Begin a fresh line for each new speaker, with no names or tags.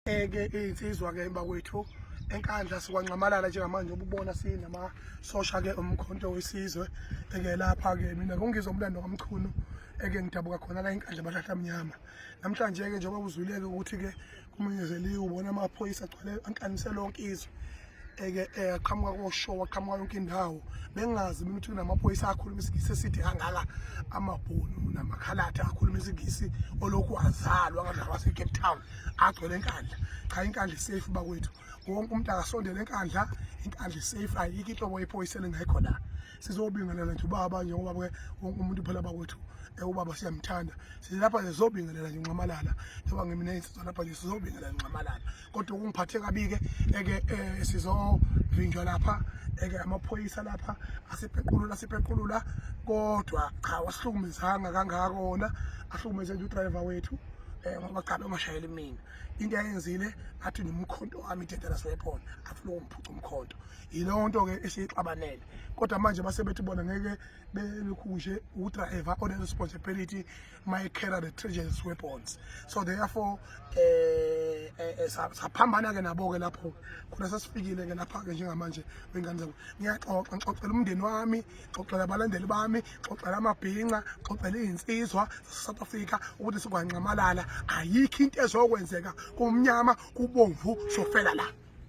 ke insizwa ke emba kwethu enkandla sikwanxamalala njengamanje ububona sinama sosha ke umkhonto wesizwe eke lapha ke mina ngongizwa umlando kamchunu eke ngidabuka khona la inkandla abahlahla mnyama namhlanje ke njengoba uzwileke ukuthi ke kumenyezeliwe ubona amaphoyisa agcwele ankanisela lonke izwe eke eh, aqhamuka koshow aqhamuka yonke indawo bengazi mina ukuthi kunamaphoyisa akhuluma isingisi esithi angaka amabhunu namakhalatha akhuluma isingisi olokhu azalwa ngalaba seCape Town agcwele enkandla cha inkandla safe bakwethu wonke umuntu akasondele enkandla inkandla safe ayikho inhlobo yephoyisa lengekho la sizobingelela nje ubaba njengoba ke wonke umuntu phela bakwethu eh, ubaba siyamthanda silapha sizobingelela nje nxamalala njengoba ngimine insizwa lapha nje sizobingelela nxamalala kodwa kungiphathe kabi-ke eke um sizovinjwa lapha eke amaphoyisa lapha asipequlula asipequlula kodwa cha wasihlukumezanga kangako wona ahlukumeze nje udrayiva wethu um ngoba cha bengashayeli mina into ayenzile athi nomkhonto wami i-dangerous weapon afuna ukungiphuca umkhonto yileyo nto-ke esiyixabanele kodwa manje basebethi bona ngeke belukhushe udrayiva one-responsibility mayekera the treasures weapons so therefore eh, eh, eh saphambana ke nabo ke lapho khona sasifikile ke lapha ke njengamanje wengane zabo ngiyaxoxa ngixoxela umndeni wami xoxela abalandeli bami xoxela amabhinca xoxela izinsizwa South Africa ukuthi sikwanqamalala ayikho into ezokwenzeka kumnyama kubomvu sofela la